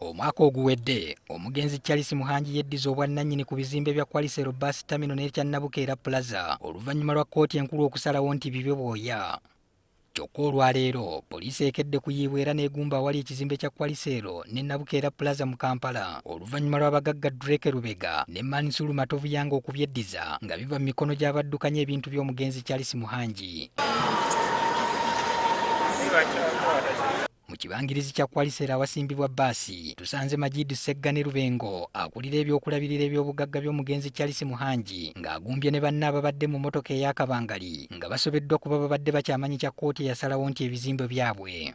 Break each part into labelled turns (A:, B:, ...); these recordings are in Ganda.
A: Omwaka oguwedde omugenzi Charles Muhangi yeddiza obwannannyini ku bizimbe bya Qualisero Bus Terminal n'ekya Nabukeera Plaza oluvannyuma lwa kkooti enkulu okusalawo nti bibe bwoya. Kyokka olwaleero poliisi ekedde kuyiibwa era n'egumba awali ekizimbe kya Qualisero ne Nabukeera Plaza mu Kampala oluvannyuma lw'abagagga Drake Lubega ne Mansuru Matovu Yanga okubyeddiza nga biva mu mikono gy'abaddukanya ebintu by'omugenzi Charles Muhangi. Kyaggwe. Mu kibangirizi kya Kwalisera awasimbibwa bbaasi tusanze Majid Ssegga ne Lubengo akulira ebyokulabirira eby'obugagga by'omugenzi Charles Muhangi ng'agumbye ne banne ababadde mu mmotoka ey'akabangali nga basobeddwa kuba babadde bakyamanyi kya kkooti eyasalawo nti ebizimbe byabwe.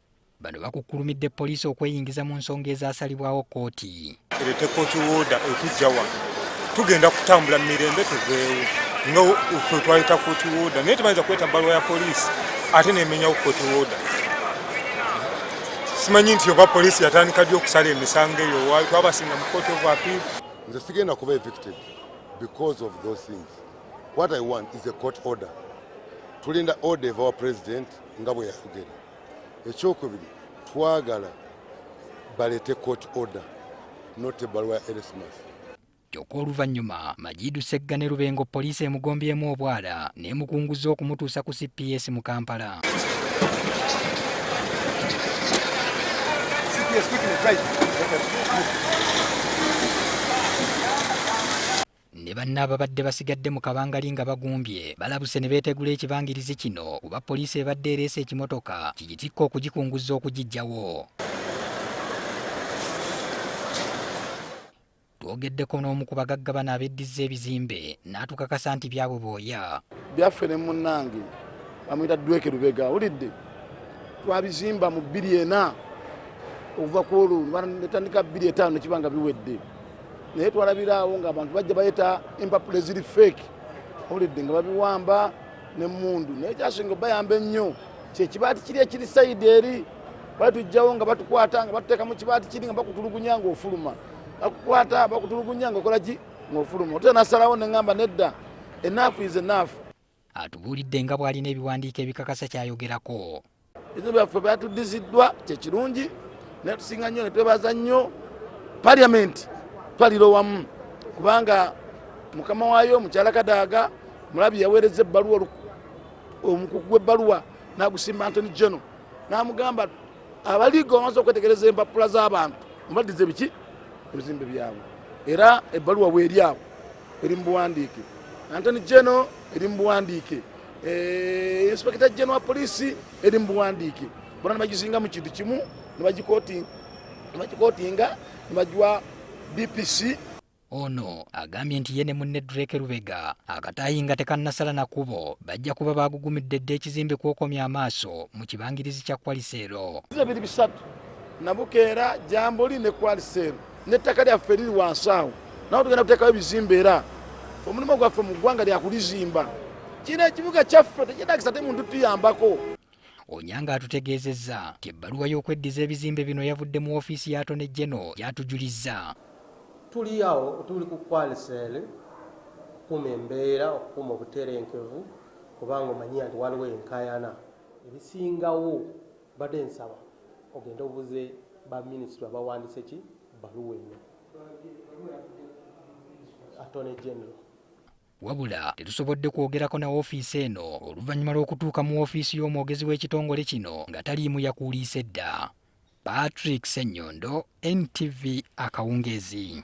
B: Bano
A: bakukkulumidde poliisi okweyingiza mu nsonga ezasalibwawo kkooti. Erete kkooti
C: wooda etujja wano tugenda kutambula mu mirembe tuveewo nga ffe twayita kkooti wooda naye tebayinza kweta bbaluwa ya poliisi ate nemenyawo kkooti wooda simanyi nti oba poliisi yatandika ddi okusala emisango eyo waayo twabasinga mu kkooti of appeal nze sigenda kuba
B: evicted because of those things what i want is a court order tulinda order eva wa president nga bwe yayogera ekyokubiri twagala balete court order not ebaluwa ya erismas kyokka
A: oluvannyuma majidu segga ne lubengo poliisi emugombyemu obwala n'emukunguza okumutuusa ku cps mu kampala ne banne ababadde basigadde mu kabangali nga bagumbye balabuse ne beetegula ekibangirizi kino kuba poliisi ebadde ereese ekimotoka kigitikka okugikunguzza okugiggyawo twogeddeko n'omu ku bagagga bano abeddizza ebizimbe n'atukakasa nti byabwe booya byaffe ne
D: munnange bamuyita dweke lubega awulidde twabizimba mu bbiri ena okuva ku olwo netandika bbiri etaano nekibanga biwedde naye twalabira awo nga abantu bajja bayeta empapula eziri fake olidde nga babiwamba nemundu naye kyasinga bayamba ennyo kyekibaati kiri ekiri saidi eri bali tujjawo nga batukwata nga batuteeka mu kibaati kiri nga bakutulugunya nga ofuluma bakukwata bakutulugunya nga okolaki nga ofuluma otuta nasalawo neŋamba nedda enaafu ize naafu atubuulidde
A: nga bw'alina ebiwandiiko ebikakasa kyayogerako ebyo byaffe
D: byatuddiziddwa kyekirungi naye tusinga nnyo netwebaza nnyo paliamenti twalira owamu kubanga mukama waayo mukyala kadaaga mulabi yaweereza ebbaluwa omukuku gw'ebbaluwa nagusimba antony geno namugamba abaliiga omaze okwetegereza empapula z'abantu mubaddize biki ebizimbe byabwe era ebbaluwa weeri awo eri mu buwandiike antony geno eri mu buwandiike eh, inspekita geno wa poliisi eri mu buwandiike bona nebagizinga mu kintu kimu nebagikotinga nebagiwa dpc ono
A: agambye nti ye ne munne drake lubega akataayi nga tekannasala na kubo bajja kuba baagugumidde dda ekizimbe kwokomya amaaso mu kibangirizi kya kwaliseero biri bisatu
D: nabukeera jambuli ne kwaliseero n'ettaka lyaffe liri wansi awo nawe tugenda kuteekawo ebizimba era omulimu gwaffe mu ggwanga lyakulizimba kino ekibuga kyaffe tekyetagisa te muntu tuyambako onyanga
A: atutegeezezza nti ebbaluwa y'okweddiza ebizimbe bino yavudde mu ofiisi ya tone geno gyatujulizza tuli
E: awo tuli ku kwalisel okukuma embeera okukuma obuterenkevu kubanga omanyiya nti waliwo enkayana ebisingawo Mbadde nsaba ogende obuze ba ministry abawandise ki baluwa eno. Attorney General. Wabula
A: tetusobodde kwogerako na ofiisi eno oluvannyuma lw'okutuuka mu ofiisi y'omwogezi w'ekitongole kino nga taliimu yakuuliise dda. Patrick Ssenyondo, NTV Akawungeezi.